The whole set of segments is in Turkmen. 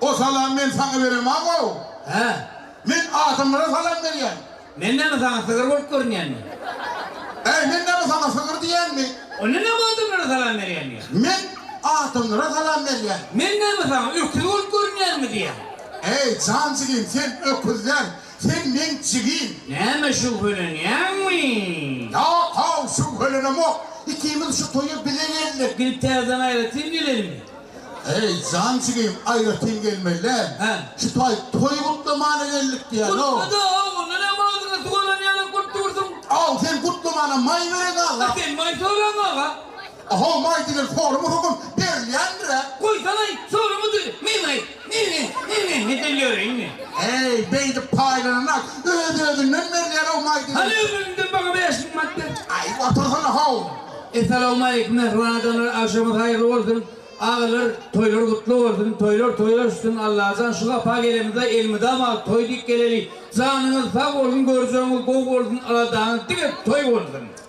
O salamy men saňa berem, a-ow! Hä? Men adamlara salam berýän. Men näme saňa sygyr bolup görünýänmi? Äý, men näme saňa sygyr diýýänmi? Onda näme adamlara salam berýän diýýän? Men adamlara salam berýän. Men näme saňa öküz bolup görünýänmi diýýän? Äý, jan jigim, sen öküz däl, sen meň jigim. Näme, şübhelenýäňmi? Ýok-ow, şübhelenemok. Ikimiz şu toýa bile geldik. Gidip täzeden aýratyn gelenmi? Heý jan jigim aýratyn gelmeliler. Hä. Şu taý toý gutlamana geldik diýýäno. Gutla-da, haw, onda näme agzyňa suw alan ýalam bolup dursuň. Haw, sen gutlamana maý beren aga. Sen maý soraň aga. Haw, maý diýlen sorama höküm berilýändir-ä. Goýsaň-aý, sorama döli, meň-aý. Nini-nini gidilerini. Eý, beýdip paýlananak, öz-özünden berýär-ow maýdyny. Hany öňüňde maňa bäş müň manat ber. Aý, otursana-how! Essalawmaleýkim, mähriban adamlar, agşamyz haýyrly bolsun! Agalar, toýlar gutly bolsun! Toýlar toýa uçsun! Allajan, şu Wapa gelenimizde elmydama toý diýip geleli! Janyňyz sag bolsun, görjegiňiz gowy bolsun, aladaňyz diňe toý bolsun!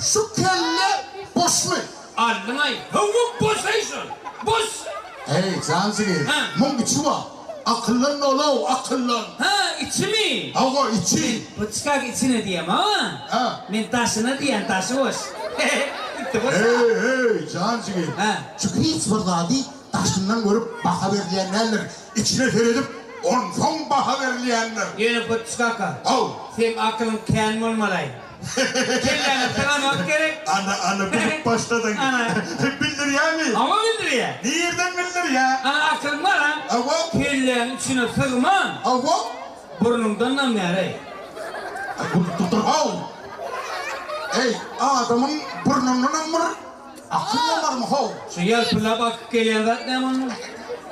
Şu kelle boşmy? Aldyňaý. Hawa boş heý şol. Boş. Heý, jan jigim. Hä. Muň içi bar. Akyllan bol-ow, akyllan. Hä, içimi? Hawa, içi. Puçkak içine diýem, a? Hä. Men daşyna diýen, daşy boş. Itdi boş. Heý, heý, jan jigim. Hä. Şu hiç bir zady daşyndan görüp baha berilýän däldir. Içine seredip, onsoň baha berilýändir. Ýöne puçkaka. Haw. Seň akylyň kän bolmalaý. Kelläňi sylamak gerek. Ana, ana, bilip başladyň. Ana. Bildirýämi? Hawa, bildirýä. Nirden bildirýä? Ana, akylyň bar-a? Hawa. Kelläň içine sygman. Hawa. Burnuňdan damýar-eý. Aý, gülüp durdur-haw. Eý, adamyň burnundanam bir. Akylly barmy how? Şu ýer pula bakyp gelýän zat näme onuň?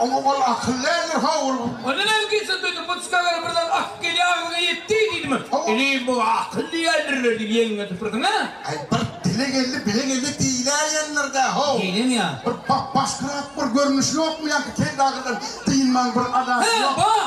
Oňa ol akyl däldir how ol. Onda näme gitsin söýdüp bu çykaga birden akyp gelýär agzyňa ýetdi diýdimi? Inim bu akyl diýýändirler diýip ýeňiňe tüpürdiň a? Aý bir dile geldi bile geldi diýiläýendirdä how. Diýdiň ýa. Bir bap başkyrak bir görnüşi ýokmy ýaňky kelle agyrdan dynman bir adasy ýok. He bar.